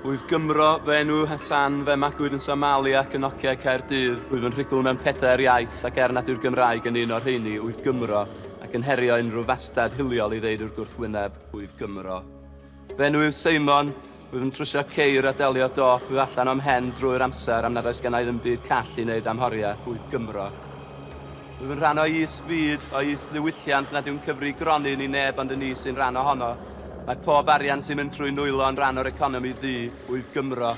Oedd Gymro fy enw Hassan, fe magwyd yn Somali ac yn Nokia Caerdydd. Rwyf yn rhugl mewn pedair iaith ac er nad yw'r Gymraeg yn un o'r rheini, wyf Gymro, ac yn herio unrhyw fastad hiliol i ddeud i'r gwrthwyneb, wyf Gymro. Fy enw yw Seimon, wyf yn trwsio ceir a delio dop yw allan o'm hen drwy'r amser am nad oes gennai ddim byd call i wneud am horiau, wyf Gymro. Rwyf yn rhan o is fyd, o is ddiwylliant nad yw'n cyfri gronyn i neb ond y ni sy'n rhan ohono. Mae pob arian sy'n mynd trwy nwylo yn rhan o'r economi ddu, wyf Gymro.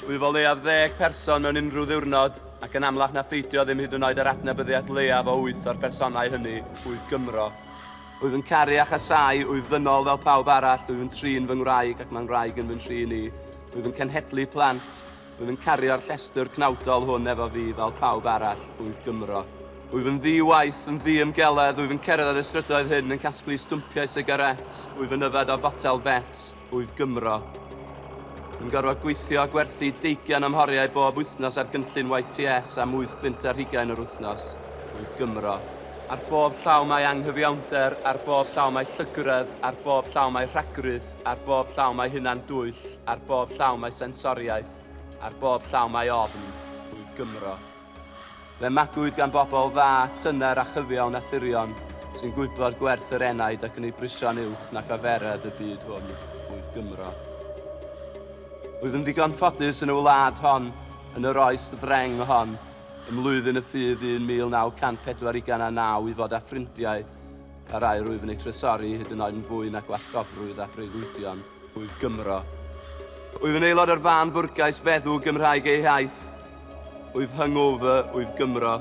Wyf o leiaf ddeg person mewn unrhyw ddiwrnod, ac yn amlach na pheidio ddim hyd yn oed â'r adnabyddiaeth leiaf o wyth o'r personau hynny, wyf Gymro. Wyf yn caru a chasau, wyf ddynol fel pawb arall, wyf yn trin fy ngwraig ac mae ngwraig yn fy nhrin i, wyf yn cenhedlu plant, Wyf yn cario'r llestr cnawdol hwn efo fi fel pawb arall, wyf Gymro. Wyf yn ddi-waith, yn ddi-ymgeledd, wyf yn cerdded y strydoedd hyn yn casglu stwmpiau sigaréts, wyf yn yfed o fotel feths, wyf Gymro. Yn gorfod gweithio a gwerthu deugian o'm horiau bob wythnos ar gynllun YTS am wyth bunt ar hugain yr wythnos, wyf Gymro. Ar bob llaw mae anghyfiawnder, ar bob llaw mae llygredd, ar bob llaw mae rhagrith, Ar bob llaw mae hunan dwyll, ar bob llaw mae sensoriaeth, ar bob llaw mae ofn, rwyf Gymro. Fe magwyd gan bobl dda, tyner a chyfiawn a thirion, sy'n gwybod gwerth yr enaid ac yn ei brisio'n uwch nac aferedd y byd hwn, rwyf Gymro. Rwyf yn ddigon ffodus yn y wlad hon, yn yr oes ddreng hon, ym mlwyddyn y ffydd 1940 i gan a naw i fod â ffrindiau Yr aer wyf yn ei trysoru hyd yn oed yn fwy na gwallgofrwydd a breuddwydion wyf Gymro. Wyf yn aelod o'r fan fwrgais feddw Gymraeg ei haith. Wyf hungover, wyf Gymro.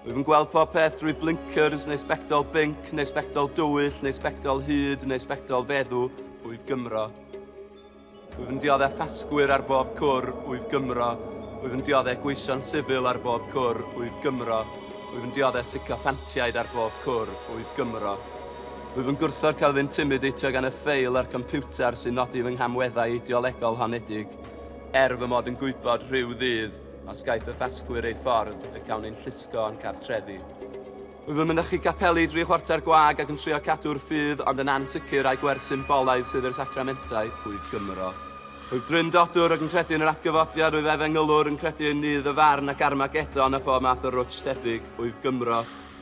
Wyf yn gweld pob peth drwy blinkers neu sbectol binc neu sbectol dywyll neu sbectol hyd neu sbectol feddw, wyf Gymro. Wyf yn dioddef ffasgwyr ar bob cwr, wyf Gymro. Wyf yn dioddef gweision sifil ar bob cwr, wyf Gymro. Wyf yn dioddef sycoffantiaid ar bob cwr, wyf Gymro. Wyf yn gwrthod cael fy intimideitio gan y ffeil a'r computer sy'n nodi fy nghamweddau ideolegol honedig, er fy mod yn gwybod rhyw ddydd, os gaiff y ffasgwyr eu ffordd, y cawn ein llusgo o'n cartrefi. Fy mynychu capeli dri chwarter gwag ac yn trio cadw'r ffydd ond yn ansicr ai gwerth symbolaidd sydd i'r sacramentau, Hwyf Gymro. Rwyf dryndodwr ac yn credu yn yr atgyfodiad, rwyf efengylwr, yn credu yn Nudd y Farn ac Armagedon a phob math o rwtsh tebyg, Hwyf Gymro.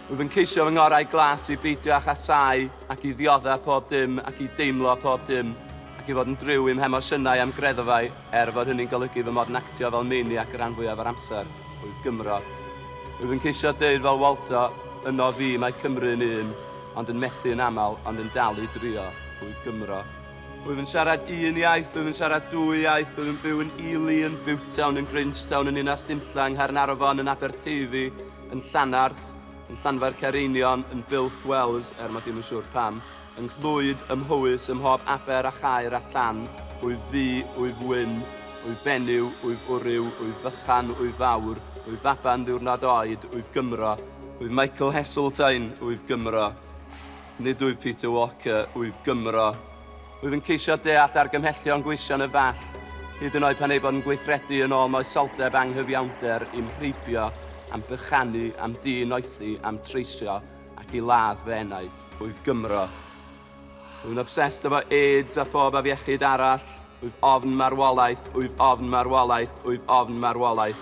Rwyf yn ceisio fy ngorau glas i beidio â chasau ac i ddioddef pob dim ac i deimlo pob dim ac i fod yn driw i'm hemosiynau a'm greddfau. Er fod hynny'n golygu fy mod yn actio fel maniac y rhan fwyaf o'r amser, wyf Gymro. Wyf yn ceisio deud fel Waldo, yno fi mae Cymru yn un, ond yn methu yn aml, ond yn dal i drio, wyf Gymro. Wyf yn siarad un iaith, wyf yn siarad dwy iaith, wyf yn byw yn Ely, yn Butetown, yn Grangetown, yn Ninas Dinlla, yng Nghaernarfon, yn Aberteifi, yn Llanarth, yn Llanfair Caereinion, yn Builth Wells, er mod i'm yn siŵr pam. Yng nghlwyd, ym Mhowys, ym mhob aber a chaer a llan, wyf ddu, wyf wyn, wyf benyw, wyf wryw, wyf fychan, wyf fawr, wyf faban ddiwrnod oed, wyf Gymro, wyf Michael Heseltine, wyf Gymro, nid wyf Peter Walker, wyf Gymro, wyf yn ceisio deall argymhellion gweision y Fall, hyd yn oed pan eu bod yn gweithredu yn ôl moesoldeb anghyfiawnder, i'm rheibio, a'm bychanu, a'm di-noethi, a'm treisio, ac i ladd fy enaid. Wyf Gymro. Wyf yn obsessed efo AIDS a phob afiechyd arall. Wyf ofn marwolaeth, wyf ofn marwolaeth, wyf ofn marwolaeth.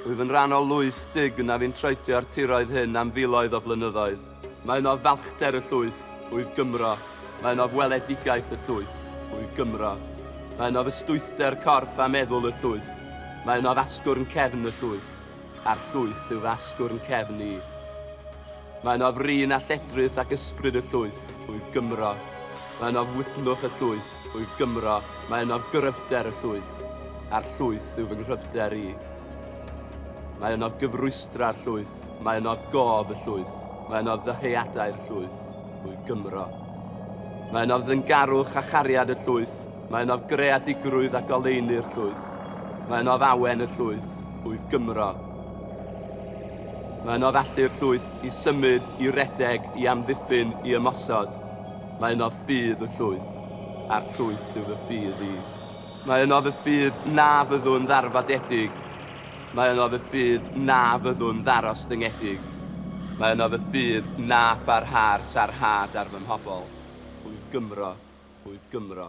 Wyf yn rhan o lwyth dug na fi'n troedio'r tiroedd hyn am filoedd o flynyddoedd. Mae ynof falchder y llwyth, wyf Gymro. Mae ynof weledigaeth y llwyth, wyf Gymro. Mae ynof ystwythder corff a meddwl y llwyth. Mae ynof asgwrn cefn y llwyth. a'r llwyth yw fy asgwrn cefn i. Mae ynof rin a lledrith ac ysbryd y llwyth wyf Gymro. Mae ynof wydnwch y llwyth wyf Gymro, mae ynof gryfder y llwyth, a'r llwyth yw fy nghryfder i. Mae ynof gyfrwysdra'r llwyth, mae ynof gof y llwyth, mae ynof ddyheadau'r llwyth wyf Gymro. Mae ynof ddyngarwch a chariad y llwyth, Mae yno greadigrwydd a goleuni'r llwyth. Mae yno ddawen y llwyth, wyf Gymro. Mae yno felly'r llwyth i symud, i redeg, i amddiffyn, i ymosod. Mae yno ffydd y llwyth, a'r llwyth yw fy ffydd i. Mae yno fy ffydd na fyddwn ddarfodedig. Mae yno fy ffydd na fyddwn ddarostyngedig. Mae yno fy ffydd na pharha'r sarhad ar fy mhobl. Hwyl Gymro, Hwyl Gymro.